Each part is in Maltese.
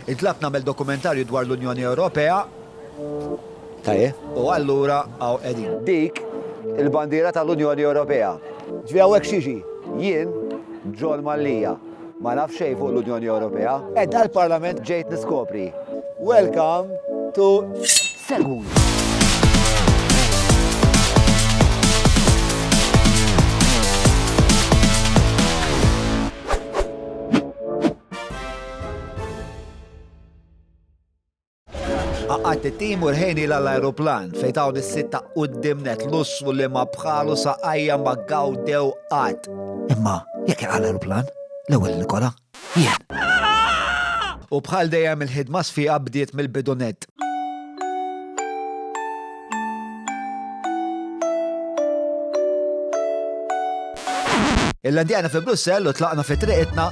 Intlabt nagħmel dokumentarju dwar l-Unjoni Ewropea. Tajjeb. U allura hawn qegħdin. Dik il-bandiera tal-Unjoni Ewropea. Ġifieri hawnhekk x'jiġi? Jien, John Mallia, ma naf xejn fuq l-Unjoni Ewropea. Qiegħda l-Parlament ġejt niskopri. Welcome to Seguni. Għaqqat it-tim u rħejni l-aeroplan fejn dawn is-sitta qudiem net lussu li ma bħalu saqajja ma gawdew qatt. Imma jekk jaqa' l-aeroplan, l-ewwel Nikola, jien. U bħal dejjem il-ħidma sfiqa bdiet mill-bidunet. Il-landjana fi Brussell u tlaqna fi triqitna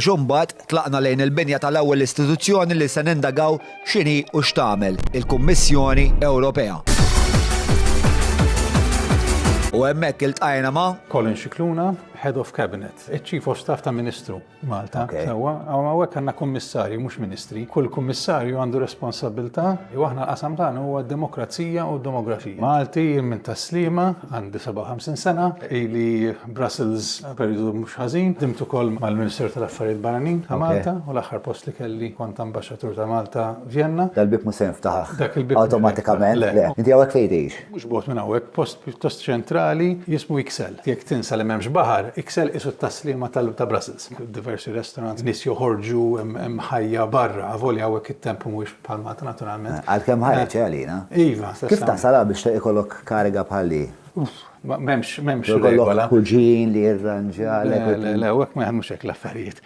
biex imbagħad tlaqna lejn il-binja tal-ewwel istituzzjoni li se nindagaw x'inhi u x'tagħmel, il-Kummissjoni Ewropea. U hemmhekk iltqajna ma' Colin Scicluna, Head of Cabinet, iċ-Chief of Staff ta' Ministru. Malta, sewwa, hawnhekk għandna kummissarji mhux ministri. Kull kummissarju għandu responsabilità u aħna l-qasam tagħna huwa d-demokrazija u d-demografija. Malti jien minn tas-Sliema, għandi 57 sena, ili Brussels perjodu mhux ħażin, ħdimt ukoll mal-Ministeru tal-Affarijiet Barranin ta' Malta u l-aħħar post li kelli kont ambaxxatur ta' Malta Vjenna. Dal-bieb mhux se jinftaħ awtomatikament. Le. Inti hawnhekk fejn tgħix? Mhux bogħod minn hawnhekk, post pjuttost ċentrali jismu Ixelles. Jekk tinsa li m'hemmx baħar, Ixelles qisu t-taslima ta' Brussels. Diversi restaurants, nies joħorġu, hemm ħajja barra, avolja hawnhekk it-temp mhuwiex bħal Malta naturalment. Għalkemm ħareġ, eh, għalina? Iva. Kif tasal hawn biex ikollok kariga bħal di? M'hemmx, m'hemmx regola. Kuġin li jirranġalek. Le, le, hawnhekk ma jaħdmux hekk l-affarijiet.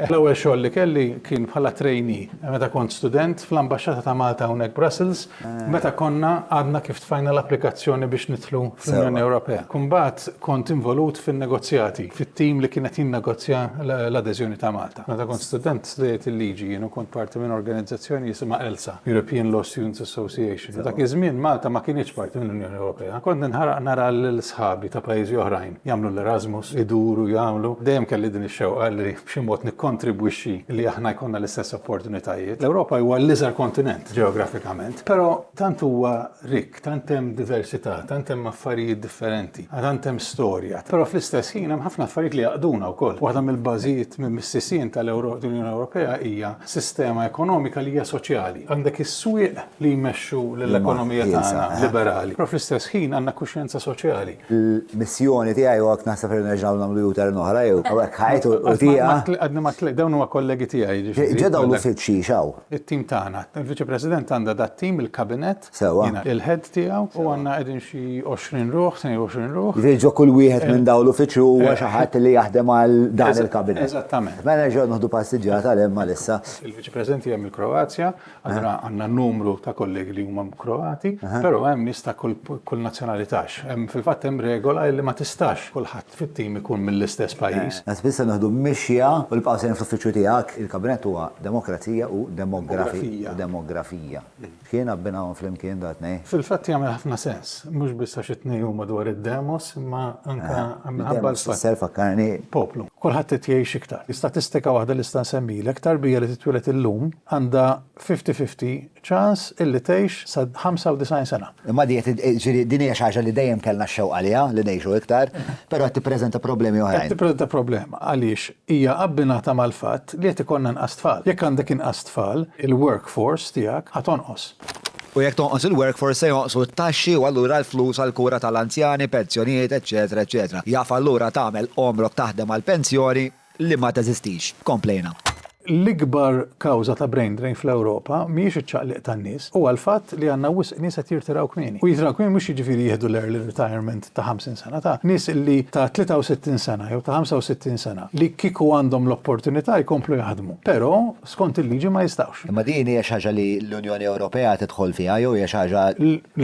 L-ewwel xogħol li kelli kien bħala trainee. Meta kont student fl-Ambaxxata ta' Malta hawnhekk Brussels, Meta konna għadna kif tfajna l-applikazzjoni biex nidħlu fl-Unjoni Ewropea. Imbagħad kont involut fin-negozjati, fit-tim li kien qed jinnegozja l-adeżjoni ta' Malta. Meta kont student studejt il-liġi jien u kont parti minn organizzazzjoni jisimha ELSA, European Law Students Association. Dak iż-żmien Malta ma kinitx parti mill-Unjoni Ewropea. Kont ninħaraq nara lil sħabi ta' pajjiżi oħrajn jagħmlu l-Erasmus, iduru, jagħmlu. Dejjem kelli din ix-xewqa li b'xi mod nikkontribwixxi li aħna jkollna l-istess opportunitajiet. L-Ewropa huwa l-iżgħar kontinent. ġeografikament, però tant huwa rikk, tant hemm diversità, tant hemm affarijiet differenti, tant hemm storja. Però fl-istess ħin hemm ħafna affarijiet li jgħaqqduna wkoll. Waħda mill-bażijiet, mis-sisien tal-Unjoni Ewropea hija sistema ekonomika li hija soċjali. Għandek is-swieq li jmexxu lill-ekonomija tagħna liberali, però fl-istess ħin għandna kuxjenza soċjali. Il-missjoni tiegħi u hekk naħseb li nerġgħu nagħmlu U-turn oħra jew hawnhekk ħajt u tieqa. Għadni ma tliqt, dawn huma kollegi tiegħi. Ġa dawn l-uffiċċji x'hawn? It-tim tagħna. Il-Viċi President għandha dat-tim, il-Kabinett, jiena il-Head tiegħu, u għandna qegħdin xi 20 ruħ, 22 ruħ. Jiġifieri ġo kull wieħed minn dawn l-uffiċċju huwa xi ħadd li jaħdem għal dan il-Kabinett. Eżattament. Mela nerġgħu nieħdu passiġġjata għal hemm għal issa. Il-Viċi President hija mill-Kroazja, allura għandna numru ta' kollegi li huma Kroati, però hemm nies ta' kull nazzjonalità. Fil-fatt hemm regola li ma tistax kulħadd. fit-tim ikun mill-istess pajjiż. Tant biss se nieħdu mixja u nibqgħu sejrin fl-uffiċċju tiegħek. Il-Kabinett huwa demokrazija u demografija. Demografija. X'kiena abbinahom flimkien dawn it-tnejn? Fil-fatt jagħmel ħafna sens, mhux biss għax it-tnejn huma dwar id-demos imma anke minħabba l-fatt. Demos, fakkarni. Poplu. Kulħadd qed jgħix iktar. Statistika waħda li nista' nsemmilek, tarbija li titwieled illum għandha fifty fifty ċans illi tgħix sa 95 sena. Imma di qed ġifieri din hija xi ħaġa li dejjem kellna x-xewqa għaliha li ngħixu iktar, però qed tippreżenta problemi oħrajn. Qed tippreżenta problema għaliex hija abbinata mal-fatt li qed ikollna inqas tfal. Jekk għandek inqas tfal, il-workforce tiegħek ħa tonqos. U jekk tonqos il-workforce se jonqsu t-taxxi u allura l-flus għall-kura tal-anzjani, pensjonijiet, eċċetera, eċċetera. Jaf allura tagħmel għomrok taħdem għall-pensjoni li ma teżistix, komplejna. L-ikbar kawża ta' brain drain fl-Ewropa mhijiex iċ-ċaqliq tan-nies, huwa l-fatt li għandna wisq nies qed jirtiraw kmieni. U jitraw kmieni mhux jiġifieri jieħdu l-early retirement ta' 50 sena, ta' nies li ta' 63 sena jew ta' 65 sena li kieku għandhom l-opportunità jkomplu jaħdmu, però skont il-liġi ma jistgħux. Imma din hija xi ħaġa li l-Unjoni Ewropea tidħol fiha jew hija xi ħaġa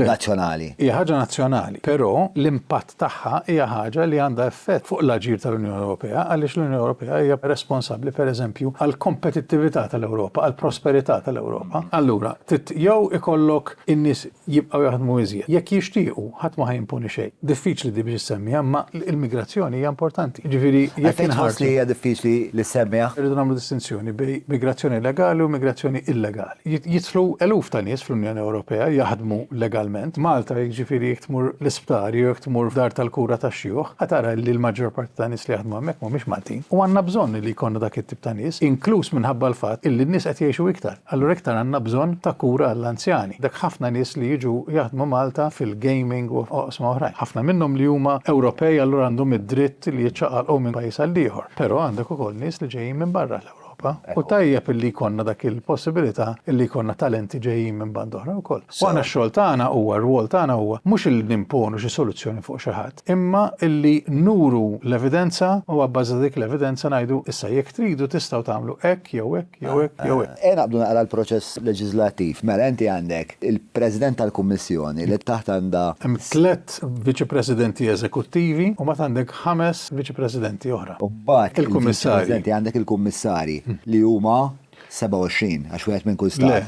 nazzjonali? Hija ħaġa nazzjonali, però l-impatt. tagħha hija ħaġa li għandha effett fuq l-aġir tal-Unjoni Ewropea għaliex l-Unjoni Ewropea hija responsabbli, per eżempju, għall-kompetittività tal-Ewropa, għall-prosperità tal-Ewropa. Allura, trid jew ikollok in-nies jibqgħu jaħdmu iżjed, jekk jixtiequ, ħadd ma ħa jimponi xejn. Diffiċli din biex issemmiha, imma l-migrazzjoni hija importanti. Jiġifieri, jekk inħarsu. Għalfejn tħoss li hija diffiċli li ssemmiha? Irridu nagħmlu distinzjoni bejn migrazzjoni legali u migrazzjoni illegali. jidħlu eluf ta' nies fl-Unjoni Ewropea jaħdmu legalment. Malta jekk ġifieri jekk tmur l-isptar jew jekk tmur f'dar tal-kura tax-xjuħ ħa tara li l-maġġor parti ta' nies li jaħdmu hemmhekk mhumiex Maltin. U għandna bżonn li jkollna dak it-tip ta' nies, inkluż minħabba l-fatt illi n-nies qed jgħixu iktar. Allura iktar għandna bżonn ta' kura għall-anzjani. Dak ħafna nies li jiġu jaħdmu Malta fil-gaming u oqsma oħrajn. Ħafna minnhom li huma Ewropej allura għandhom id-dritt li jiċċaqalqu minn pajjiż għall-ieħor. Però għandek ukoll nies li ġejjin minn barra l-Ewropa. Ewropa u tajjeb illi jkollna dak il-possibilità illi jkollna talenti ġejjin minn banda oħra wkoll. U aħna x-xogħol tagħna huwa, r-rwol tagħna huwa mhux illi nimponu xi soluzzjoni fuq xi ħadd, imma illi nuru l-evidenza u abbażi ta' dik l-evidenza ngħidu issa jekk tridu tistgħu tagħmlu hekk jew hekk jew hekk jew hekk. Ejja naqbdu naqra l-proċess leġiżlattiv. Mela inti għandek il-President tal-Kummissjoni li taħt għandha. Hemm tliet Viċi Presidenti Eżekuttivi u mbagħad għandek ħames Viċi Presidenti oħra. U mbagħad il-Viċi Presidenti għandek il-Kummissarji li huma 27, għax wieħed minn kull Stat. Le,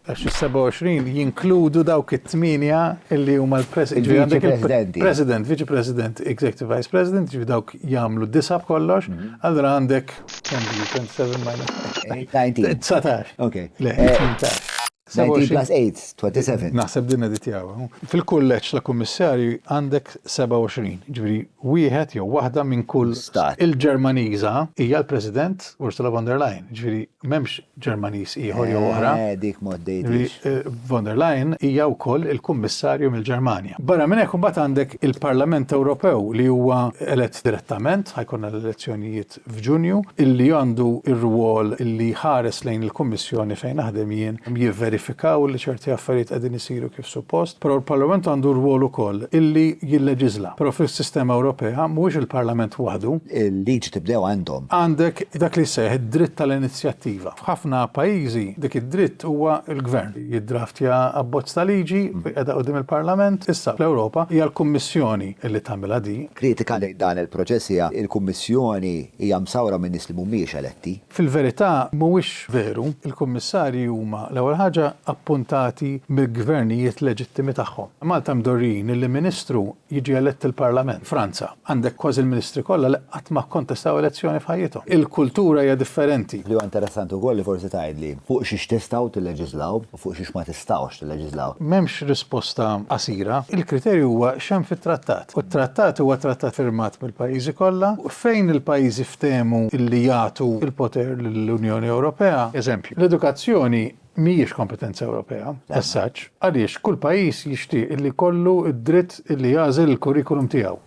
għax is-27 jinkludu dawk it-tmienja li huma l-Presidenti. Għandek il-President, Viċi President, Executive Vice President, ġifi dawk jagħmlu disa' b'kollox, allura għandek 27 minus 19. 19. Ok. Le, 18. Sebu xi- 19 plus 8, 27. Naħseb din editjawa. Fil-kulleġġ ta' kummissarji għandek 27, jiġifieri wieħed jew waħda minn kull Stat. Il-Ġermaniża hija l-President Ursula von der Leyen, jiġifieri m'hemmx Ġermaniż ieħor jew oħra. Eh, dik ma Jiġifieri, għoddejtix. eh, von der Leyen hija wkoll il-Kummissarju mill-Ġermanja. Barra minn hekk imbagħad għandek il-Parlament Ewropew li huwa elett direttament, ħajkonna l-elezzjonijiet f'Ġunju, li għandu r-rwol li jħares lejn il-Kummissjoni fejn naħdem jien, jivverifikaw li ċerti affarijiet qegħdin isiru kif suppost, però l-Parlament għandu r-rwol ukoll li jilleġiżla. Però fis-sistema Ewropea mhuwiex il-Parlament waħdu. Il-liġi tibdew għandhom. Għandek dak li jseħħ id-dritt tal-inizjattiva. F'ħafna pajjiżi dik id-dritt huwa l-Gvern li jiddraftja abbozz ta' liġi u jqegħdha quddiem il-Parlament. Issa fl-Ewropa hija l-Kummissjoni li tagħmilha din. Kritika lejn dan il-proċess hija li l-Kummissjoni hija msawra minn nies li mhumiex eletti. Fil-verità, mhuwiex veru. Il-Kummissarji huma, l-ewwel ħaġa, appuntati mill-gvernijiet leġittimi tagħhom. Malta mdorrijin illi Ministru jiġi elett il-Parlament. Franza, għandek kważi l-Ministri kollha li qatt ma kkontestaw elezzjoni f'ħajjithom. Il-kultura hija differenti. Li huwa interessanti wkoll li forsi tgħidli fuq xiex tistgħu tilleġislaw. fuq xiex ma tistgħux tilleġiżlaw. M'hemmx risposta qasira. Il-kriterju huwa x'hemm fit-Trattat. U t-Trattat huwa Trattat firmat mill-pajjiżi kollha fejn il-pajjiżi ftehmu li jagħtu l-poter lill-Unjoni Ewropea. Eżempju, l-edukazzjoni mhijiex kompetenza Ewropea as such għaliex kull pajjiż jixtieq li jkollu d-dritt li jagħżel il-kurrikulum tiegħu.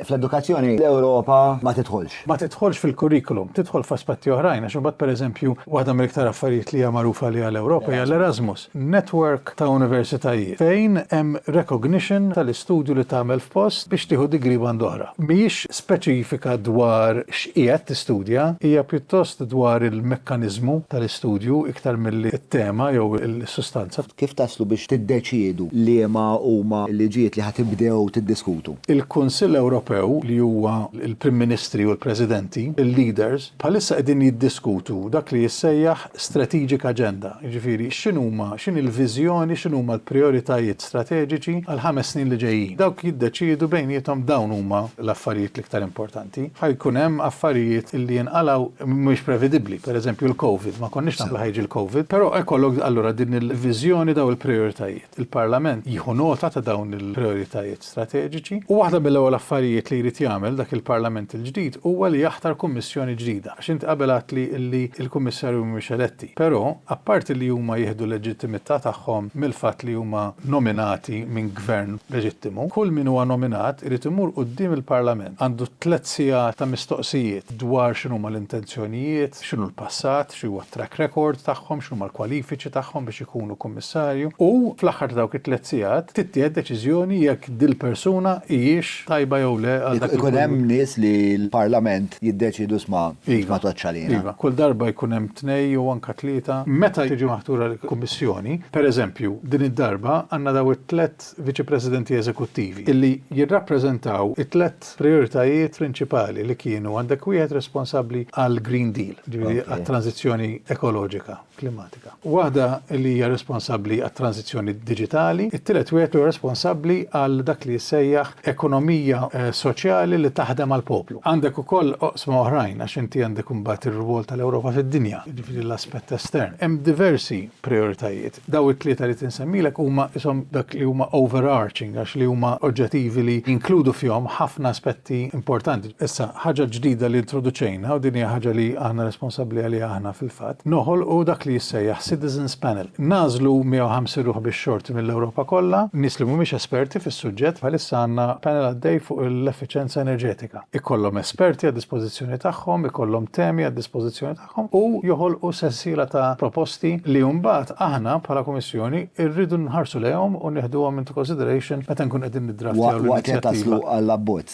Fl-edukazzjoni l-Ewropa ma tidħolx. Ma tidħolx fil-kurrikulum, tidħol f'aspetti oħrajn għax imbagħad pereżempju waħda mill-iktar affarijiet li hija magħrufa għaliha l-Ewropa hija l-Erasmus, network ta' universitajiet fejn hemm recognition tal-istudju li tagħmel f'post biex tieħu degree band'oħra. Mhijiex speċifika dwar x'qiegħed tistudja, hija pjuttost dwar il-mekkaniżmu tal-istudju iktar milli t-tema jew is-sustanza. Kif taslu biex tiddeċiedu liema huma l-liġijiet li ħa tibdew tiddiskutu? Il-Kunsill Ewropew, li huwa l-Prim Ministri u l-Presidenti, il-leaders, bħalissa qegħdin jiddiskutu dak li jissejjaħ strategic agenda, jiġifieri x'inhuma, x'inhi l-viżjoni, x'inhuma l-prijoritajiet strateġiċi għall-ħames snin li ġejjin. Dawk jiddeċiedu bejniethom dawn huma l-affarijiet l-iktar importanti. differenti, ħa jkun hemm affarijiet li jinqalgħu mhumiex prevedibbli, pereżempju l-Covid, ma konniex nafu li ħa jiġi l-Covid, però hekk jkollok allura din il-viżjoni dawn il-prijoritajiet. Il-Parlament jieħu nota ta' dawn il-prijoritajiet strateġiċi u waħda mill-ewwel affarijiet li jrid jagħmel dak il-Parlament il-ġdid huwa li jaħtar Kummissjoni ġdida. Għax inti qabel għedtli li l-Kummissarju mhumiex eletti, però apparti li huma jieħdu l-leġittimità tagħhom mill-fatt li huma nominati minn gvern leġittimu, kull min huwa nominat irid imur quddiem il-Parlament. Għandu tliet sigħat ta' mistoqsijiet dwar x'inhuma l-intenzjonijiet, x'inhu l-passat, x'huwa t-track record tagħhom, x'inhuma l-kwalifiċi tagħhom biex ikunu Kummissarju u, fl-aħħar ta' dawk it-tliet sigħat, tittieħed deċiżjoni jekk dil-persuna hijiex tajba jew le għal dak li jkun. Ikun hemm nies li l-Parlament jiddeċiedu isma' tgħoddx għalina. Iva, kull darba jkun hemm tnej jew anke tlieta. Meta tiġi maħtura l-Kummissjoni, pereżempju, din id-darba għandna daw it-tliet tliet Viċi Presidenti Eżekuttivi li jirrappreżentaw it-tliet prijoritajiet prinċipali li kienu, għandek wieħed responsabbli għall-Green Deal, jiġifieri għat-tranżizzjoni ekoloġika, klimatika, waħda li hija responsabbli għat-tranżizzjoni diġitali, it-tielet wieħed li huwa responsabbli għal dak li jissejjaħ ekonomija soċjali li taħdem għall-poplu. Għandek ukoll oqsma oħrajn għax inti għandek imbagħad ir-rwol tal-Ewropa fid-dinja, jiġifieri l-aspett estern. Hemm diversi prijoritajiet. Daw it-tlieta li qed insemmilek huma qishom dak li huma overarching għax li huma oġġetivi li jinkludu fihom ħafna aspetti importanti. Issa, ħaġa ġdida li introduċejna, u din hija ħaġa li aħna responsabbli għaliha aħna fil-fatt, noħolqu dak li jissejjaħ Citizens Panel. Nagħżlu 150 ruħ bix-xorti mill-Ewropa kollha, nies li mhumiex esperti fis-suġġett, bħalissa għandna panel għaddej fuq l-effiċjenza enerġetika. Ikollhom esperti għad-dispożizzjoni tagħhom, ikollhom temi għad-dispożizzjoni tagħhom, tagħhom u joħolqu sensiela ta' proposti li mbagħad aħna bħala Kummissjoni rridu nħarsu lejhom u nieħduhom into consideration meta nkunu qegħdin niddraftjaw l-inizjattiva. Waqt li taslu għall-abbozz.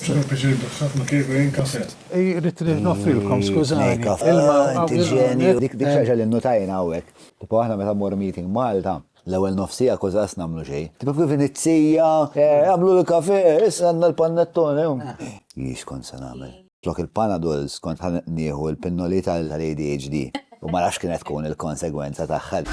Irrid noffrilkom, skużani, ilma. Dik xi ħaġa li nnutajna hawnhekk. Tipo aħna meta mmorru meeting Malta, l-ewwel nofs siegħa kważi lanqas nagħmlu xejn. Tipo kif inizzija, Agħmlu l-kafè, issa għandna l-panettone. Hi x'kont se nagħmel. Flok il-Panadols kont ħa nieħu l-pinnoli tal-ADHD u ma nafx kienet tkun il-konsegwenza tagħha.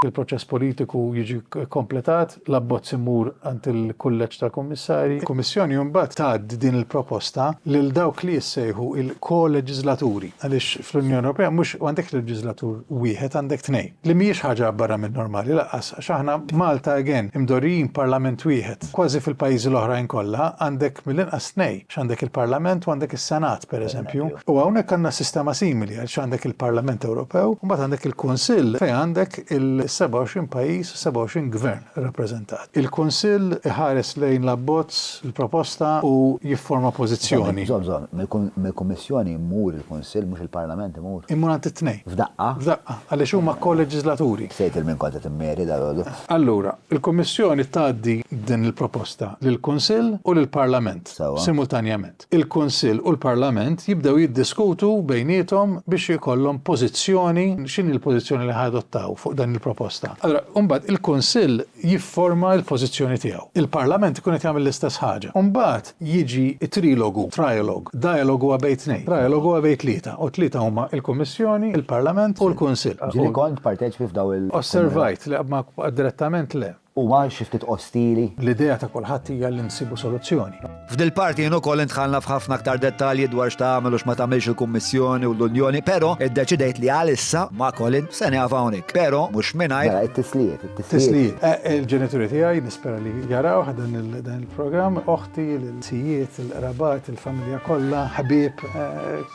Il-proċess politiku jiġi kkompletat, l-abbozz imur għand il-Kulleġġ tal-Kummissarji. Il-Kummissjoni mbagħad tgħaddi din il-proposta lil dawk li jissejħu l-koleġiżlaturi, għaliex fl-Unjoni Ewropea mhux m'għandekx leġiżlatur wieħed għandek tnejn, li mhijiex ħaġa barra min-normali lanqas. Għax aħna Malta again imdorrijin b'parlament wieħed. Kważi fil-pajjiżi l-oħrajn kollha għandek mill-inqas tnej, għax għandek il-parlament u għandek is-senat pereżempju. U hawnhekk għandna sistema simili għax għandek il-parlament Ewropew u mbagħad għandek il-kunsill fejn għandek il-27 pajjiż u 27 gvern irrappreżentat. Il-kunsill iħares lejn l-abbozz, il-proposta u jifforma pożizzjoni. Żomm, żomm, mill-kummissjoni jmur il-kunsill mhux il-parlament. Immur għand it-tnejn. F'daqqa. F'daqqa, għaliex huma ko-leġiżlaturi. Sejt il-min kont qed immeri dalgħodu. Allura, il-Kummissjoni tgħaddi din il-proposta lill-Kunsill u lill-Parlament. Sewwa. Simultanjament. Il-Kunsill u l-Parlament jibdew jiddiskutu bejniethom biex ikollhom pożizzjoni, x'inhi l-pożizzjoni li ħa-jadottaw fuq dan il-proposta. Allura, imbagħad il-Kunsill jifforma l-pożizzjoni tiegħu. Il-Parlament ikun qed jagħmel l-istess ħaġa. Imbagħad, jiġi t-trilogu, trialogue. Dialogue huwa bejn tnejn. Trialogue huwa bejn tlieta, u tlieta huma l-Kummissjoni, il-Parlament u l-Kunsill. Ġieli kont parteċipi f'dawn il-. Osservajt, le, ma direttament le. Huwa xi ftit ostili. L-idea ta' kulħadd hija li nsibu soluzzjoni. F'dil-parti jien ukoll indħalna f'ħafna aktar dettalji dwar x'tagħmel u x'ma tagħmilx il-Kummissjoni u l-Unjoni, però iddeċidejt li għalissa, ma' Colin, se nieqaf hawnhekk. Però mhux mingħajr. Mela, it-tislijiet, it-tislijiet. Tislijiet. Il-ġenituri tiegħi nispera li jarawh dan il. Programm oħti lil sijiet, il-qrabat, il-familja kollha, ħbieb,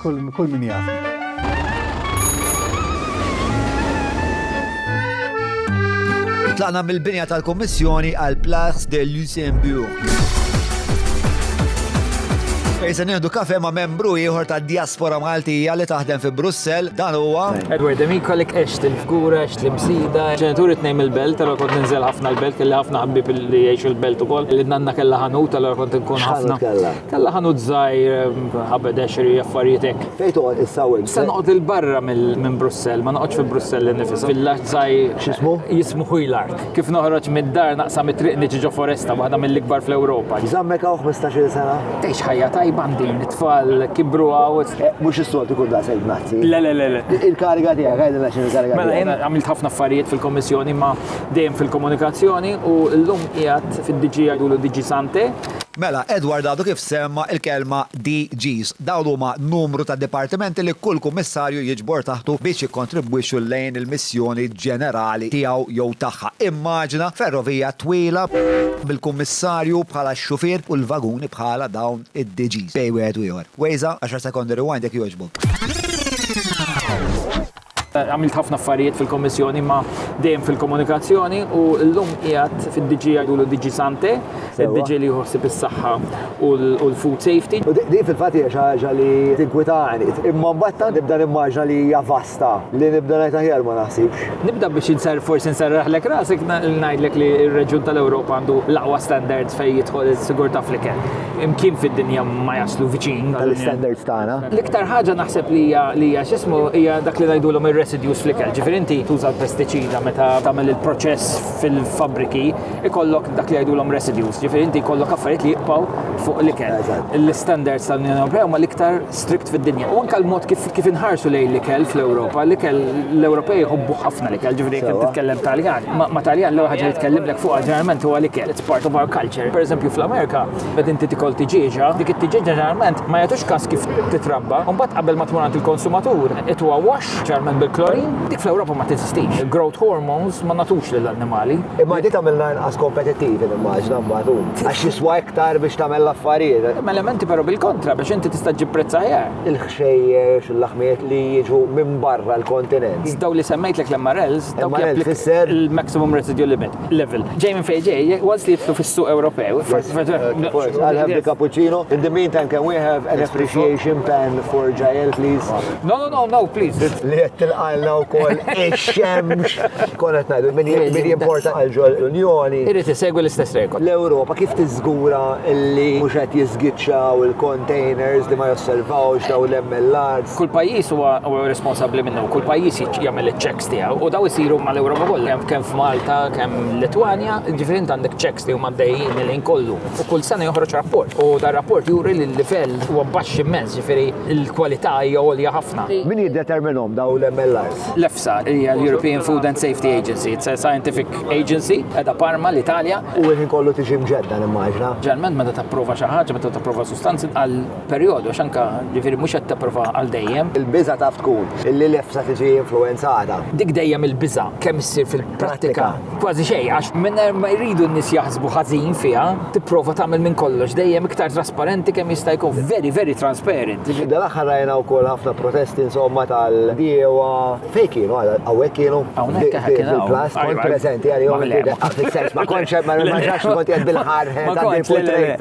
kull min jafni. Tlaqna mill-binja tal-Kommissjoni għal Plax de Luxembourg. Fejsa nieħdu kafe ma' membru ieħor ta' diaspora Maltija li taħdem fi Brussel, dan huwa Edward Demikolik Xtlimt f'kura, xtlimt sida. Ġenituri tnejn mill-belt, allura kont ninżel ħafna l-belt, kelli ħafna ħabib li jgħixu l-belt ukoll. Li nanna kellha ħanut, allura kont inkun ħafna. Kellha ħanut żgħir, ħabed għexri, affarijiet hekk. Fejn toqgħod issa u int? Issa noqgħod il-barra minn Brussell, ma noqgħodx fi Brussell innifisha. Villaġġ żgħir. X'ismu? Jismu Huilarc. Kif noħroġ mid-dar naqsa mit-triq niġi ġo foresta waħda mill-ikbar fl-Ewropa. Zammek hawn 15-il sena. Tgħix ħajja tajba din, it-tfal kibru hawn. Eh, mhux is-soltu kun da sejt nazzi. Le, le, le, Il-kariga tiegħek, għajdilna x'in il-kariga tiegħek. Mela jien għamilt ħafna affarijiet fil-Kommissjoni ma dejjem fil-komunikazzjoni u llum qiegħed fid-DG għajdu DG Sante. Mela, Edward għadu kif semma il-kelma DGs. Dawn huma numru ta' dipartimenti li kull Kummissarju jiġbor taħtu biex jikkontribwixxu lejn il-missjoni ġenerali tiegħu jew tagħha. Immaġina ferrovija twila bil-Kummissarju bħala x-xufier u l-vaguni bħala dawn id-DGs bejn wieħed u ieħor. Waze, għaxar sekondi rewind jekk jogħġbok. Għamilt ħafna affarijiet fil-Kommissjoni ma dejjem fil-komunikazzjoni u l-lum qiegħed fid-DG għajdu l-DG Sante, il-DG li jħossib is-saħħa u l-food safety. U di fil-fatt hija xi ħaġa li tinkwitani. Imma mbagħad tant nibda nimmaġna li hija vasta li nibda ngħid aħjar ma naħsibx. Nibda biex inser forsi nserraħlek rasek ngħidlek li r-reġjun tal-Ewropa għandu l-aqwa standards fejn jidħol is-sigurtà fl-ikel. imkien fid-dinja ma jaslu viċin tal-standards tagħna. L-iktar ħaġa naħseb li hija li hija x'ismu hija dak li ngħidulhom ir-residues fl-ikel. Ġifieri inti tuża l-pestiċida meta tagħmel il-proċess fil-fabbriki ikollok dak li jgħidulhom residues. Ġifieri inti jkollok affarijiet li jibqgħu fuq l-ikel. L-standards tal-Unjoni Ewropea huma l-iktar strikt fid-dinja. U anka l-mod kif kif inħarsu lejn l-ikel fl-Ewropa, l-ikel l-Ewropej jħobbu ħafna l-ikel, ġifieri jekk Sewwa. titkellem Taljan, ma ma Taljan l-ewwel ħaġa li tkellimlek fuqha ġeneralment huwa l-ikel, it's part of our culture. Pereżempju fl-Amerika, meta inti tikol tiġieġa, dik it-tiġieġa ġeneralment ma jagħtux kas kif titrabba, u mbagħad qabel ma tmur għand il-konsumatur, it huwa wash, Speċjalment bil-klorin, dik fl-Ewropa ma teżistix. Il-growth hormones ma nagħtux lill-annimali. Imma di tagħmilna inqas kompetittivi nimmaġina mbagħad hu. Għax jiswa iktar biex tagħmel l-affarijiet. Hemm elementi però bil-kontra biex inti tista' ġġib prezz aħjar. Il-ħxejjex, il-laħmijiet li jiġu minn barra l-kontinent. Dawn li semmejtlek l-MRLs, dawk japplikaw. MRL tfisser? Il-maximum residual limit. level. Ġej minn fejn ġej, once li jitlu fis-suq Ewropew. I'll have the cappuccino. In the meantime, can we have an appreciation pan for Jael, please? No, no, no, no, please. Li qed tilqalna wkoll ix-xemx. Konet ngħidu min jimporta għal ġol l-Unjoni. Irid isegwi l-istess rekord. L-Ewropa kif tiżgura li mhux qed jiżgiċċaw il-containers li ma josservawx daw l-MLRs? Kull pajjiż huwa responsabbli minnu, kull pajjiż jagħmel iċ-checks checks tiegħu u daw isiru mal-Ewropa kollha, kemm f'Malta, kemm Litwanja, ġifieri int għandek checks li huma dejjin li kollu. U kull sena joħroġ rapport. U dar rapport juri li l-livell huwa baxx immens, ġifieri l-kwalità hija għolja ħafna. Min jiddeterminhom daw l-MLRs? L-EFSA hija l-European Food and Safety Agency, it's a scientific agency qiegħda Parma, l-Italja. U l-ħin kollu tiġi mġedda nimmaġina. Ġeneralment meta tapprova xi ħaġa, meta tapprova sustanzi għal perjodu għax anke ġifieri mhux qed tapprova għal dejjem. Il-biża' taf tkun illi l-EFSA tiġi influwenzata. Dik dejjem il-biża' kemm issir fil-prattika kważi xejn għax mingħajr ma jridu n-nies jaħsbu ħażin fiha tipprova tagħmel minn kollox dejjem iktar trasparenti kemm jista' jkun. Very, very transparent. F'dan l-aħħar rajna wkoll ħafna protesti insomma tal-bdiewa Fej kienu, għawek kienu, fil-plas, kont prezenti għal-jom, fil-sens, ma konċe, ma nħarġax kont jgħad bil-ħar, għad bil-portrait.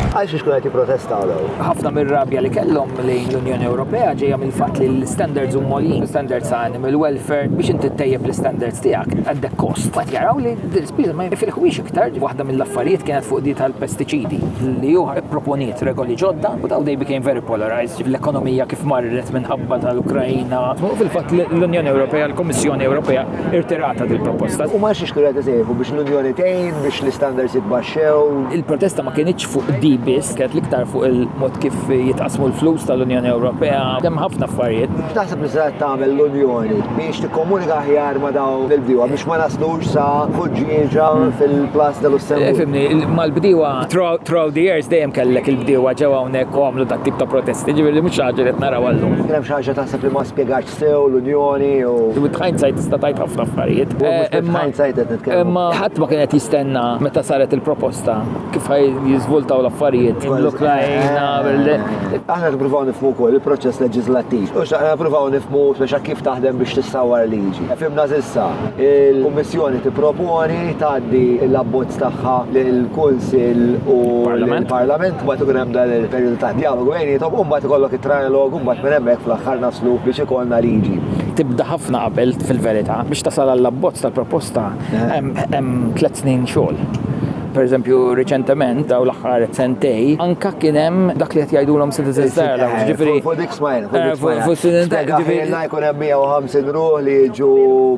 Għal xiex kunet protesta għal ħafna mir-rabja li kellhom lejn l-Unjoni Ewropea ġejja mill-fatt li l-standards huma li standards ta' animal welfare biex inti tejjeb l-standards tiegħek għandek kost. Qed jaraw li Din l-ispiża ma jinfilħuhiex iktar, waħda mill-affarijiet kienet fuq di tal-pestiċidi, li hu ipproponiet regoli ġodda u dawn they became very polarized, ġifieri l-ekonomija kif marret minħabba tal-Ukraina. U fil-fatt l-Unjoni Ewropea, l-Kummissjoni Ewropea rtiratha dil-proposta. Huma għax jixtru jagħtu sejħu biex l-Unjoni tgħin biex l-istandards jitbaxxew. Il-protesta ma kinitx fuq di biss, kienet l-iktar fuq il-mod kif jitqassmu l-flus tal-Unjoni Ewropea, hemm ħafna affarijiet. X'taħseb li setgħet tagħmel l-Unjoni biex tikkomunika aħjar ma' dawn il-bdiewa biex ma naslux sa ħuġġieġa fil-Place de Lussembourg? Fimni, mal-bdiewa throughout the years dejjem kellek il-bdiewa ġew hawnhekk u għamlu dat tip ta' protesti, ġifieri mhux xi ħaġa li qed naraw għallum. Kien hemm xi ħaġa taħseb li ma spjegatx sew l-Unjoni jew? With hindsight tista' tgħid ħafna affarijiet. With hindsight qed nitkellmu. Imma ħadd ma kien qed jistenna meta saret il-proposta. kif ħaj jizvoltaw l-affarijiet l-Ukrajna. Aħna nippruvaw nifmu wkoll il-proċess leġislattiv. U xaqna nippruvaw nifmu speċa kif taħdem biex tissawar liġi. Fimna zissa, il-Kummissjoni tipproponi tgħaddi l-abbozz tagħha lill-Kunsill u l-Parlament mbagħad ikun hemm dan il-perjodu ta' dialogu bejnietom u mbagħad ikollok it-trialog u mbagħad minn hemmhekk fl-aħħar naslu biex ikollna liġi. Tibda ħafna qabel fil-verità biex tasal għall-abbozz tal-proposta hemm tliet snin xogħol. Pereżempju, riċentement, dawn l-aħħar sentejn, anke kien hemm dak li qed jgħidulhom citizens dialogues, ġifieri. Fuq dik smajna, fuq dik smajna. Fuq student dialogues. Ġifieri jkun hemm 150 ruħ li jiġu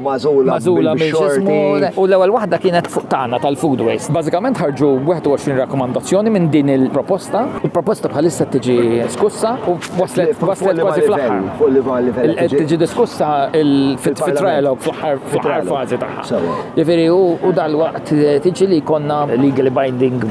magħżula. Magħżula minn xorti. U l-ewwel waħda kienet fuq tagħna tal-food waste. Bażikament ħarġu 21 rakkomandazzjoni minn din il-proposta. Il-proposta bħalissa qed tiġi diskussa u waslet kważi fl-aħħar. Fuq liema livell? Qed tiġi diskussa fit-trialogue fl-aħħar fażi tagħha. Jiġifieri u dalwaqt tiġi li jkollna legally binding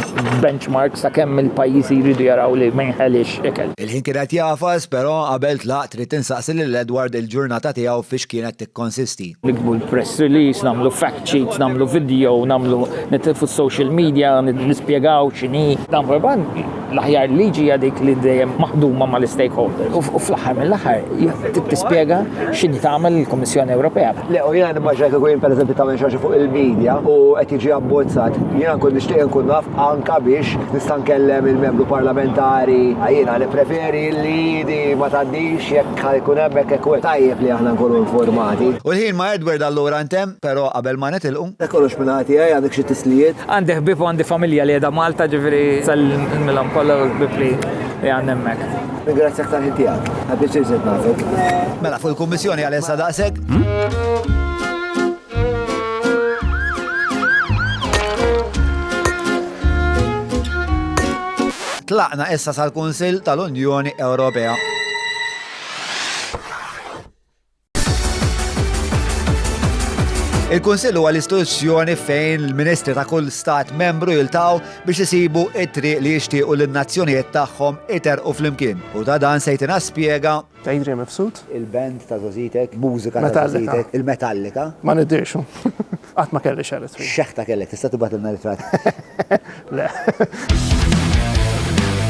benchmarks ta' kemm il-pajjiżi jridu jaraw li ma jinħeliex ikel. Il-ħin kien qed jagħfas, però qabel tlaqt ridt insaqsi lil Edward il-ġurnata tiegħu f'hiex kienet tikkonsisti. Niktbu l-press release, nagħmlu fact sheets, nagħmlu video, nagħmlu nitilfu s-social media, nispjegaw x'inhi. Dan fil-fatt l-aħjar liġi hija dik li dejjem maħduma mal-istakeholder. U fl-aħħar mill-aħħar tispjega x'inhi tagħmel il-Kummissjoni Ewropea. Le, u jiena nimmaġina kieku jien pereżempju tagħmel xi fuq il-medja u qed jiġi abbozzat. Jiena nkun nixtieq nkun naf anka biex nista' nkellem il-membru parlamentari. Jiena nippreferi li di ma tgħaddix jekk jkun hemmhekk hekk tajjeb li aħna nkunu informati. U l-ħin ma' Edward allura ntemm. Pero qabel ma nitilqu. Dak kollox min-naħa tiegħi, għandek xi tislijiet? Għandi ħbieb u għandi familja li qiegħda Malta, ġifieri nsellimilhom kollha u l-ħbieb li għandi hemmhekk. Ningrazzjak tal-ħin tiegħek. Ħa pjaċir żirt nafek. Mela fuq il-Kummissjoni għal issa daqshekk. Tlaqna issa sal-Kunsill tal-Unjoni Ewropea. Il-Kunsill huwa l-istituzzjoni fejn il-Ministri ta' kull stat membru jiltaw biex isibu it-triq li jixtiequ lin-nazzjonijiet tagħhom iter u flimkien. U ta' dan sejtina spjega ta' Adrian Mifsud. Il-band ta' Zazitek, mużika ta' Zazitek, il-Metallika. Ma nidirxu. Qatt ma kelli xaret. Xeħta kellek, tista' tibatilna ritrat. Le.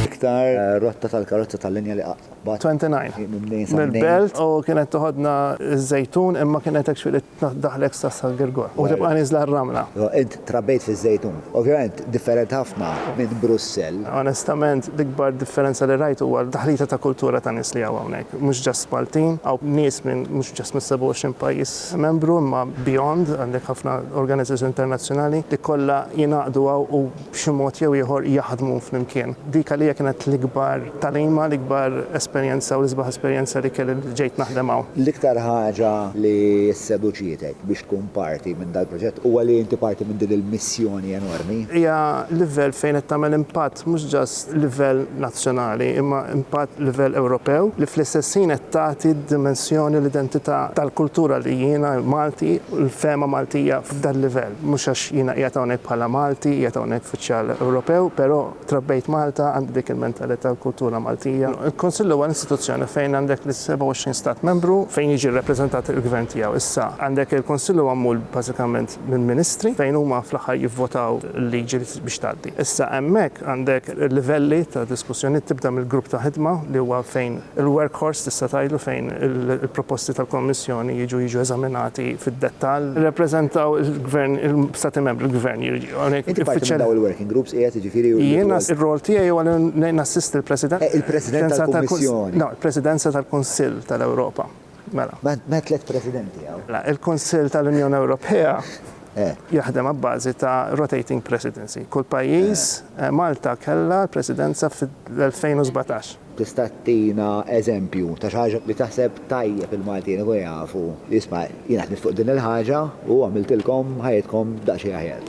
Iktar eh, rotta tal-karozza tal-linja li qatt. But 29 mill-belt u kienet toħodna ż-żejtun imma kienet hekk xfiq li daħlek sa San Girgor u tibqa' niżla r-ramla. Int trabejt fiż-żejtun. Ovvjament differenti ħafna minn Brussell. Onestament l-ikbar differenza li rajt huwa d-daħlita ta' kultura ta' nies li hawn hawnhekk. Mhux just Maltin, hawn nies minn mhux just mis-27 pajjiż membru imma beyond, għandek ħafna organizers internazzjonali li kollha jingħaqdu hawn u b'xi mod jew ieħor jaħdmu flimkien. Dik għalija kienet l-ikbar tagħlima, l-ikbar esperjenza u l-isbaħ esperjenza li kelli li ġejt naħdem hawn. L-iktar ħaġa li sseduċietek biex tkun parti minn dal-proġett huwa li inti parti minn din il-missjoni enormi? Hija livell fejn qed tagħmel impatt mhux ġast livell nazzjonali imma impatt livell Ewropew li fl-istess ħin qed tagħti d-dimensjoni l-identità tal-kultura li jiena Malti u l-fehma Maltija f'dal-livell. Mhux għax jiena qiegħed hawnhekk bħala Malti, qiegħed hawnhekk uffiċjal Ewropew, però trabbejt Malta, għandi dik il-mentalità u l-kultura Maltija. Il-Kunsill huwa l-istituzzjoni fejn għandek lis-27 Stat Membru fejn jiġi rrappreżentat il-Gvern tiegħu. Issa, għandek il-Kunsill huwa magħmul bażikament minn ministri fejn huma fl-aħħar jivvotaw il-liġi. biex tgħaddi. Issa hemmhekk għandek livelli ta' diskussjoni, tibda mill-grupp ta' ħidma li huwa fejn il-work horse tista' tgħidlu fejn il-proposti tal-Kommissjoni jiġu jiġu eżaminati fid-dettall. Jirrappreżentaw il-Gvern, il-Stati Membri, il-Gvern jiġi hawnhekk. Inti parti minn dawn il-working groups qiegħed jiġifieri u. Jiena r-rwol tiegħi huwa li nassisti l-President. Il-President tal-Kummissjoni. No, il-Presidenza tal-Kunsill tal-Ewropa. Mela. M'hemm tliet Presidenti hawn. Mela, il-Kunsill tal-Unjoni Ewropea jaħdem abbażi ta' rotating presidency. Kull pajjiż, Malta kellha l-Presidenza fl-2017. Tista' ttina eżempju ta' xi ħaġa li taħseb tajjeb il-Maltin ikunu jafu, isma' jiena ħdimt fuq din il-ħaġa u għamiltilkom ħajjitkom daqsxejn aħjar.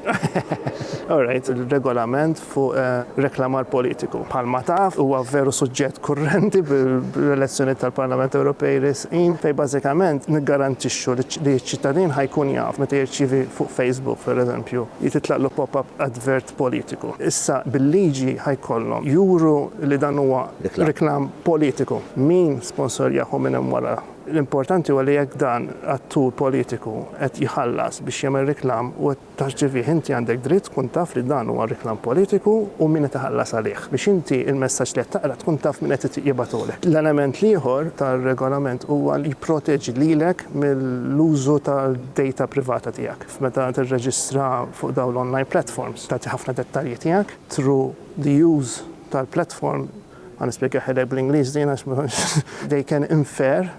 All right, ir-Regolament fuq reklamar politiku. Bħalma taf, huwa veru suġġett kurrenti bl-elezzjonijiet tal-Parlament Ewropej resqin fejn bażikament niggarantixxu li ċ-ċittadin ħa jkun jaf meta jirċievi fuq Facebook, pereżempju, li titlaqlu pop-up advert politiku. Issa bil-liġi ħa jkollhom juru li dan huwa reklam politiku, min sponsorjah u min hemm wara. L-importanti huwa li jekk dan attur politiku qed jħallas biex jagħmel reklam u Taf x'ġiefih, inti għandek dritt tkun taf li dan huwa reklam politiku u min qed iħallas għalih, biex inti l-messaġġ li qed taqra tkun taf min qed jibgħatulek. L-element l-ieħor tar-Regolament huwa li jipproteġi lilek mill-użu tad-data privata tiegħek. F'meta tirreġistra fuq dawn l-online platforms, tagħti ħafna dettalji tiegħek through the use tal-platform, ħa nispjegahilek bl-Ingliż din għax ma nafx, they can infer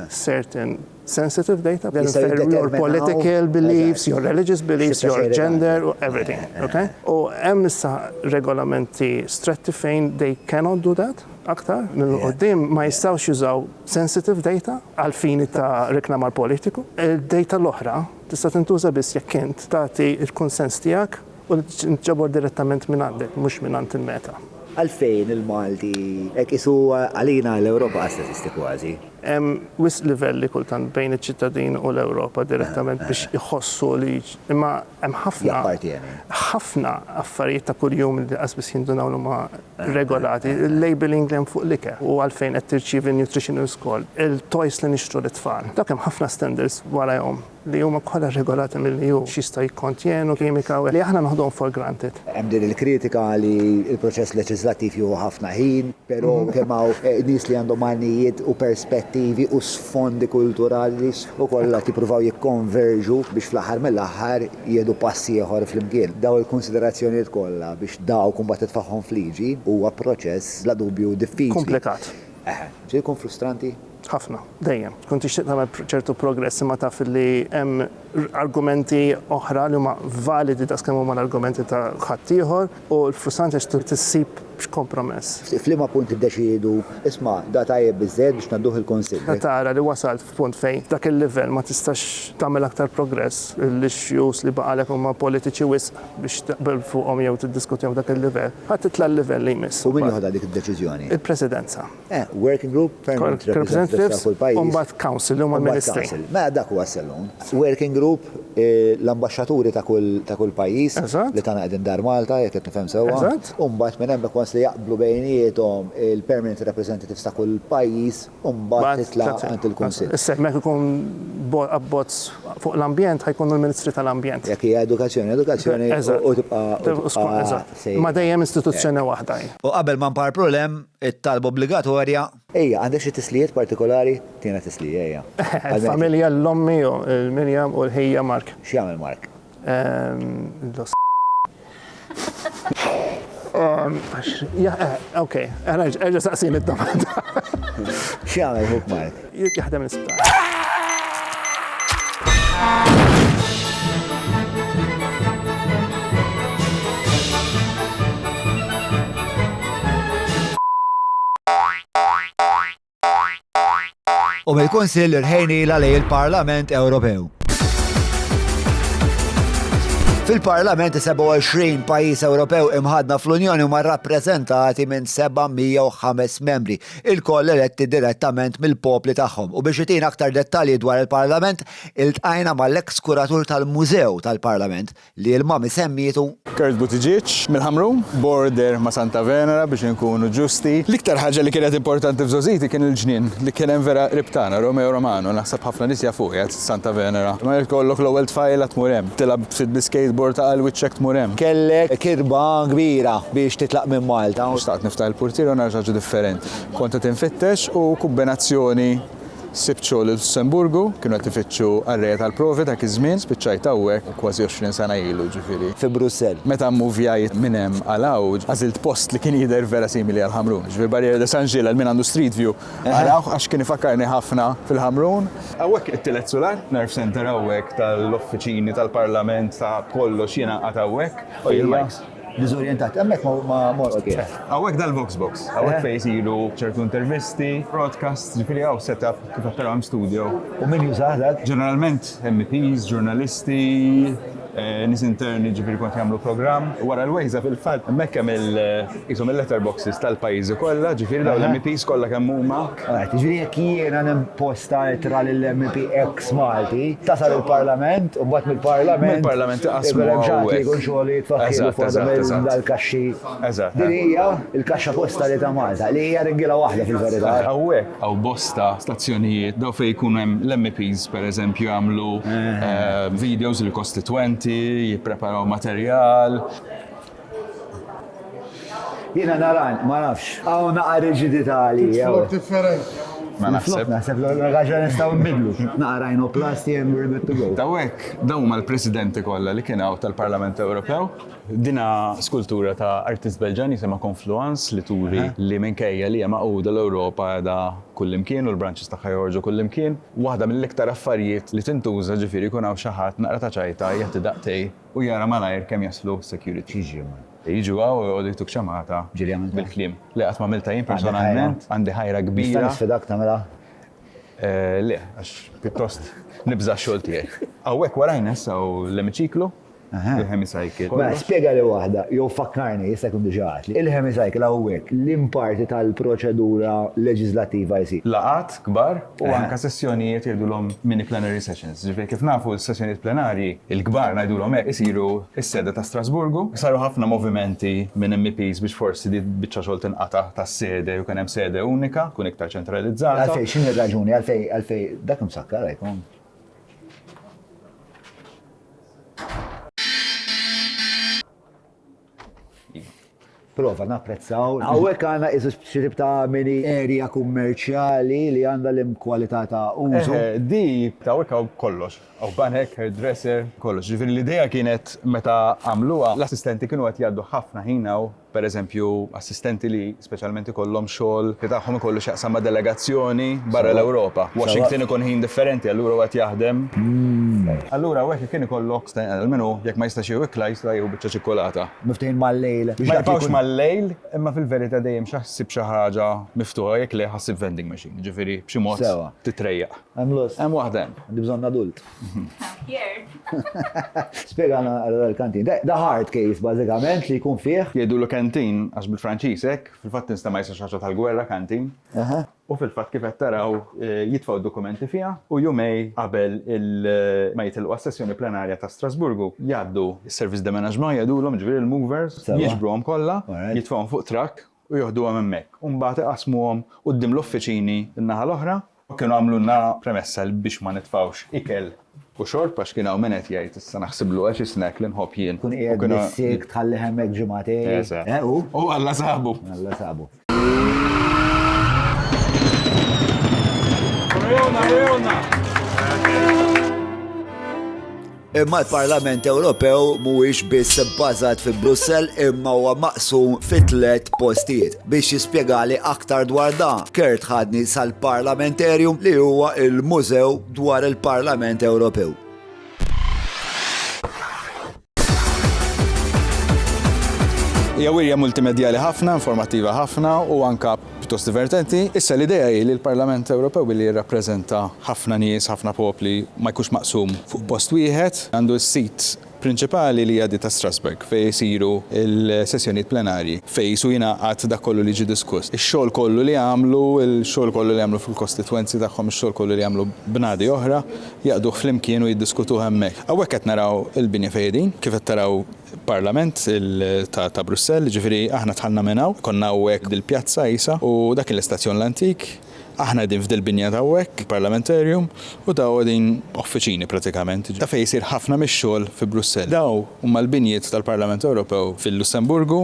certain, sensitive data, then affect your political beliefs, your religious beliefs, your gender, everything. Okay? U hemm issa regolamenti stretti fejn they cannot do that aktar minn qoddim ma jistgħux jużaw sensitive data għal fini ta' reklamar politiku. Il-data l-oħra tista' tintuża biss jekk int tagħti il-kunsens tiegħek U li tinġabar direttament minn għandek, mhux minn għand il-meta. Għalfejn il-Malti hekk qisu għalina l-Ewropa qas teżisti kważi? Hemm wisq livelli kultant bejn iċ-ċittadin u l-Ewropa direttament biex iħossu li imma hemm ħafna. Jappartjeni. Ħafna affarijiet ta' kuljum li qas biss jindunaw li huma regolati. Il-labelling li hemm fuq l-ikel u għalfejn qed tirċievi nutritional score, il-toys li nixtru lit-tfal. Dak hemm ħafna standards warajhom. li huma kollha rregolati mill-EU, x'jistgħu jikkontjenu kimika u li aħna noħduhom for granted. Hemm din il-kritika li l-proċess leġiżlattiv jieħu ħafna ħin, però kemm hawn nies li għandhom għanijiet u perspettivi u sfondi kulturali u kollha qed jippruvaw jikkonverġu biex fl-aħħar mill-aħħar jieħdu pass ieħor flimkien. Dawn il-kunsiderazzjonijiet kollha biex dawk imbagħad titfagħhom f'liġi huwa proċess bla dubju diffiċli. Kumplikat. Eħe. Se jkun frustranti? Ħafna, dejjem. Tkun tixtieq tagħmel ċertu progress imma taf li hemm argumenti oħra li huma validi daqs kemm huma l-argumenti ta' ħaddieħor u l-frustranti għax trid issib kompromess. F'liema punt tiddeċiedu, isma', da tajjeb biżżejjed biex ngħadduh il-Kunsill? Meta tara li wasalt f'punt fejn dak il-livell ma tistax tagħmel aktar progress, l-issues li baqgħulek huma politiċi wisq biex taqbel fuqhom jew tiddiskutihom f'dak il-livell, titla' l-livell li jmiss. U min joħodha dik id-deċiżjoni? Il-Presidenza. Working group, permanent representatives ta' kull pajjiż. U mbagħad council li huma l-ministri. Mela dak huwa s-salon. Working group, l-ambaxxaturi ta' kull pajjiż li tagħna qegħdin Dar Malta, jekk qed nifhem sewwa. U mbagħad minn hemmhekk once li jaqblu bejniethom il-permanent representatives ta' kull pajjiż, u mbagħad titla' għand il-kunsill. Issa jekk ma jkun abbozz fuq l-ambjent ħa jkunu l-ministri tal-ambjent. Jekk hija edukazzjoni, edukazzjoni u tibqa' sejra. Ma dejjem istituzzjoni waħda hi. U qabel ma nparpru 'l hemm, It-talba obbligatorja. Ejja, għandek xi tislijiet partikolari? Tina tislija, ejja. Il-familja, l-ommi, il-Miriam u l-ħija Mark. X'jagħmel Mark? L. Okej, erġa' saqsini d-domanda. X'jagħmel ħuk Mark? jaħdem l-isptar. u mill-Kunsill irħejniela lejn il-Parlament Ewropew. Fil-Parlament 27 pajjiż Ewropew imħadna fl-Unjoni huma rappreżentati minn 705 membri ilkoll eletti direttament mill-popli tagħhom u biex itina aktar dettalji dwar il-Parlament iltqajna mal-eks kuratur tal-Mużew tal-Parlament li il-Mami semmietu Kurt Buttigieg mill-Ħamrun, border ma' Santa Venera biex inkunu ġusti. L-iktar ħaġa li kienet importanti f'Żożiti kien il-ġnien li kien hemm vera qrib tagħna, Romeo Romano, naħseb ħafna nies jafuh, qiegħed Santa Venera. Ma jekk tkollok l-ewwel tfajla tmur hemm. Tilgħab ftit bis-skateboard ta' għal wiċċek tmur hemm. Kellek kitba kbira biex titlaq minn Malta. Xtaqt niftaħ il-purtiera u nagħmel xi ħaġa differenti. Kont qed infittex u kumbinazzjoni sibt xogħol il-Lussemburgu, kienu qed ifittxu qarrejja tal-provi dak iż-żmien, spiċċajt hawnhekk kważi għoxrin sena ilu ġifieri. Fi Brussell. Meta mmuvjajt minn hemm għal hawn, għażilt post li kien jidher vera simili għal Ħamrun. Ġifieri Barrière de Saint-Gilles għal min għandu Street View. Arawh għax kien ifakkarni ħafna fil-Ħamrun. Hawnhekk it-tielet sular, nerve centre hawnhekk tal-uffiċini tal-Parlament ta' kollox jiena nqagħad hawnhekk. Ejja il-mikes. Diżorjentat. Hemmhekk ma mort. Ok. Hawnhekk dal-vox box. Hawnhekk fejn isiru ċertu intervisti, broadcasts, ġifieri hawn set up kif qed tara hemm studio. U min jużah dak? Ġeneralment MEPs, ġurnalisti. Nies interni ġifieri kont jagħmlu programm wara l-wejża fil-fatt hemmhekk hemm il qishom il-letter boxes tal-pajjiżi kollha ġifieri dawn l-MEPs kollha kemm huma. Right, jiġifieri jekk jiena nimposta ittra lil MEP X Malti, tasal il-Parlament u mbagħad mill-Parlament. Mill-Parlament iqassmu hawnhekk. Ikun hemm xi ħadd li jkun xogħlu jitfakkirlu fuq waħda minn dal-kaxxi. Eżatt. Din hija l-kaxxa postali ta' Malta li hija ringiela waħda fil-verità. Hawnhekk. Hawn bosta stazzjonijiet, dawn fejn ikun hemm l-MEPs pereżempju jagħmlu videos lill-kostitwenti, jippreparaw materjal. Jiena nara, ma nafx, hawn naqra riġidità għalija. Flok differenti. Ma naħseb. Naħseb li għandna raġel nistgħu nbiddlu. Naqra rhinoplasty and we're good to go. Daw hekk, dawn huma l-presidenti kollha li kien hawn tal-Parlament Ewropew. Din hi skultura ta' artist Belġjan jisimha Confluence li turi li minkejja li hija magħquda l-Ewropa qiegħda kullimkien u l-branches tagħha joħorġu kullimkien. Waħda mill-iktar affarijiet li tintuża ġifieri jkun hawn xi ħadd naqra ta' ċajta jagħti daqtej u jara malajr kemm jaslu security. Jiġu hawn u joqogħdu jtuk ċamata bil-kliem. Le qatt m'għamiltha jien personalment, għandi ħajra kbira. Nista' nisfidak tagħmilha? Le, għax pjuttost nibża' x-xogħol tiegħi. Hawnhekk warajna issa hawn l-emiċiklu. Il-hemicycle. Mela, spjega li waħda, jew fakkarni, jista' jkun diġà għedt li. Il-hemicycle hawnhekk liem parti tal-proċedura leġiżlattiva jsir? Laqgħat kbar u anke sessjonijiet jgħidulhom mini-plenary sessions. Jiġifieri kif nafu s-sessjonijiet plenarji, il-kbar ngħidulhom hekk, isiru s-sede ta' Strasburgu. Saru ħafna movimenti minn MEPs biex forsi din biċċa xogħol tinqata' tas-sede u jkun hemm sede unika, tkun iktar ċentralizzata. Għalfejn, x'inhi r-raġuni għalfejn dak imsakkar hekk? prova napprezzaw. Għawek għana iżu xirib ta' mini erja kummerċjali li għanda l-imkwalità ta' użu. Eh, eh, di ta' għawek għaw kollox, għaw banek, hairdresser, kollox. Ġifiri l-ideja kienet meta għamluwa, l-assistenti kienu għat jaddu ħafna ħina u per eżempju, assistenti li speċjalment ikollhom xogħol li tagħhom ikollu x'jaqsam ma' delegazzjoni barra l-Ewropa. Washington ikun ħin differenti, allura hu qed jaħdem. Allura hawn hekk kien ikollok, sta jinqal minn hu, jekk ma jistax jieħu ikla jista' jieħu biċċa ċikkulata. Miftehim mal-lejl. Ma jibqgħux mal-lejl, imma fil-verità dejjem xi ħsib xi ħaġa miftuħa, jekk le ħa ssib vending machine, jiġifieri b'xi mod titrejjaq. Hemm lust. Hemm waħda hemm. Għandi bżonn adult. Spiegħana għal l-kantin. Da hard case, bazzikament, li jkun fih. Jedu l kantin, għax bil-Franċisek, fil-fat nista ma jisa xaċa tal-gwerra kantin. U fil-fat kif qed taraw eh, jitfaw dokumenti fija u jumej qabel eh, ma jitilqu għas-sessjoni plenarja ta' Strasburgu jgħaddu s-servizz de menaġma jgħidu l-om ġviri l-movers, jiġbru għom kolla, jitfawhom fuq trak u joħdu għom emmek. Umbat iqasmu għom u d-dim l-offiċini n-naħal oħra U kienu għamlulna premessa li biex ma nitfgħux ikel u xorb għax kien hawn min qed jgħid issa naħsiblu għax is-snack li nħobb jien. Tkun qiegħed bis-silk tħalli hemmhekk ġimagħtejn. Eżatt. Eh u? U Alla sabu. Alla sabu. Għajuna, għajuna. Imma l-Parlament Ewropew mhuwiex biss bbażat fi Brussell imma huwa maqsum fi tliet postijiet. Biex jispjegali aktar dwar da, Kurt ħadni sal-Parlamenterium li huwa il-mużew dwar il-Parlament Ewropew. Hija wirja multimedjali ħafna, informattiva ħafna u anka Pjuttost divertenti. Issa l-idea hi li l-Parlament Ewropew billi jirrappreżenta ħafna nies, ħafna popli, ma jkunx maqsum fuq post wieħed. Għandu s-sit prinċipali li hija di ta' Strasbourg fejn isiru l-sessjonijiet plenarji, fejn qisu jingħaqad dak kollu li jiġi diskuss. Ix-xogħol kollu li jagħmlu, il-xogħol kollu li jagħmlu fil-kostitwenzi tagħhom, ix-xogħol kollu li jagħmlu bnadi oħra, jaqduh flimkien u jiddiskutuh hemmhekk. Hawnhekk qed naraw il-binja fejn qegħdin, kif qed taraw. Parlament ta' Brussell, jiġifieri aħna dħalna minn hawn, konna hawnhekk dil-pjazza qisha u dak kien l-istazzjon l-antik, aħna qegħdin f'dil-binja t'hawnhekk, il-Parlamentarium, u dawn qegħdin uffiċini pratikament, ta' fejn isir ħafna mix-xogħol fi Brussell. Dawn huma l-binjiet tal-Parlament Ewropew fil-Lussemburgu,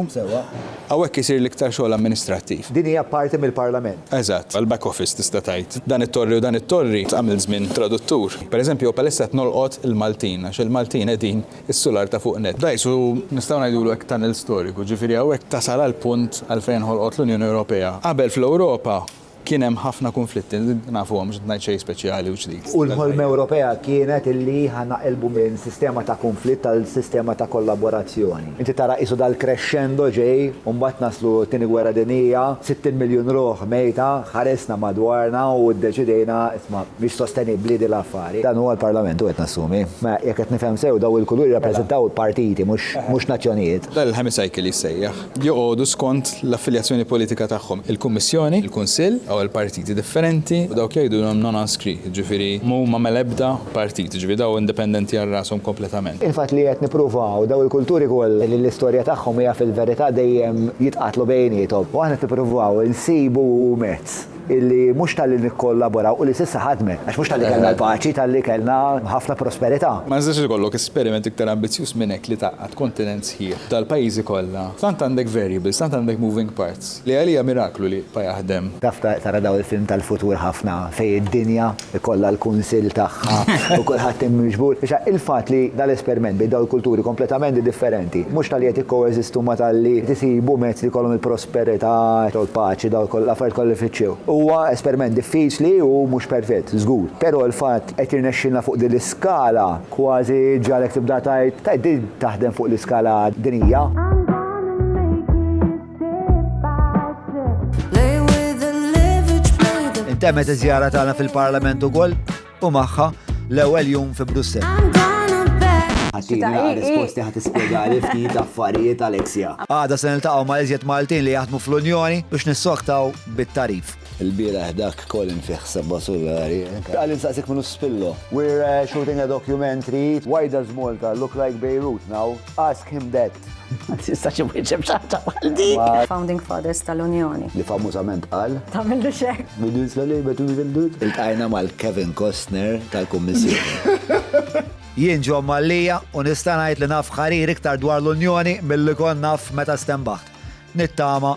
hawnhekk isir l-iktar xogħol amministrattiv. Din hija parti mill-Parlament. Eżatt, għall-back office tista' tgħid. Dan it-torri u dan it-torri tqam il-żmien traduttur. Pereżempju, bħalissa qed nolqot il-Maltin għax il-Maltin qegħdin is-sular ta' fuq nett. Dgħajsu, nistgħu ngħidulu hekk, tunnel storiku, ġifieri hawnhekk tasal għall-punt għalfejn inħolqot l-Unjoni Ewropea. Qabel fl-Ewropa kien hemm ħafna kunflitti, nafuhom, mhux qed ngħid xejn speċjali u ġdid. U l-ħolma Ewropea kienet illi ħa naqilbu minn sistema ta' kunflitt għal sistema ta' kollaborazzjoni. Inti tara qisu dal-crescendo ġej u mbagħad naslu t-Tieni Gwerra Dinjija, 60 miljun ruħ mejta, ħarisna madwarna u ddeċidejna Ma mhix sostenibbli din l-affari. Dan huwa l-Parlament, u qed nassumi. Mela, jekk qed nifhem sew, dawn il-kuluri jirrappreżentaw partiti, mhux nazzjonijiet. Dan il-hemicycle jissejjaħ. Joqogħdu skont l-affiljazzjoni politika tagħhom, il-Kummissjoni, il-Kunsill, jew għal partiti differenti, u dawk li jgħidulhom non-inscrits, jiġifieri m'huma mal-ebda partit, jiġifieri dawn indipendenti għal rashom kompletament. Il-fatt li qed nippruvaw dawn il-kulturi kollha li l-istorja tagħhom hija fil-verità dejjem jitqatlu bejniethom, u aħna qed nippruvaw insibu mezz. illi mhux talli nikkollaboraw u li s'issa ħadmet, għax mhux talli kellna l-paċi, talli kellna ħafna prosperità. Ma jistax ikollok esperiment iktar ambizzjuż minn hekk li tgħaqqad kontinent sħiħ tal-pajjiżi kollha. Tant għandek variables, tant għandek moving parts, li għalija miraklu li jibqa' jaħdem. Taf tara dawn il-film tal-futur ħafna fejn id-dinja ikollha l-kunsill tagħha u kulħadd hemm miġbur. Issa, il-fatt li dal-esperiment bejn dawn il-kulturi kompletament differenti, mhux talli qed jikkoeżistu imma talli qed isibu mezz li jkollhom il-prosperità u l-paċi, dawn kollha l-affarijiet kollha li jfittxew. Huwa esperiment diffiċli u mhux perfett, żgur. Però l-fatt qed jirnexxilna fuq din l-iskala kważi jġagħlek tibda tgħid, tajjeb din taħdem fuq l-iskala dinjija. Intemmet iż-żjara tagħna fil-Parlament ukoll u magħha l-ewwel jum fi Brussel. Għaxina risposti ħat ispiegali ftit affarijiet Alexia. Għada se niltaqgħu ma' iżjed Maltin li jaħdmu fl-Unjoni biex nissoktaw bit-tarif. Il-bira dak kolin fih sebba sullari. Għalli nsaqsik minnu spillo. We're uh, shooting a documentary. Why does Malta look like Beirut now? Ask him that. Ma tistax imwieġeb xaħta bħal dik. Founding Fathers tal-Unjoni. Li famużament qal. Tamil li xek. Minus la lejba tu il-dut. Il-tajna mal-Kevin Costner tal-Kommissjoni. Jien ġo Mallija u nista' ngħid li naf ħarir iktar dwar l-Unjoni mill-li kon naf meta stembaħt. Nittama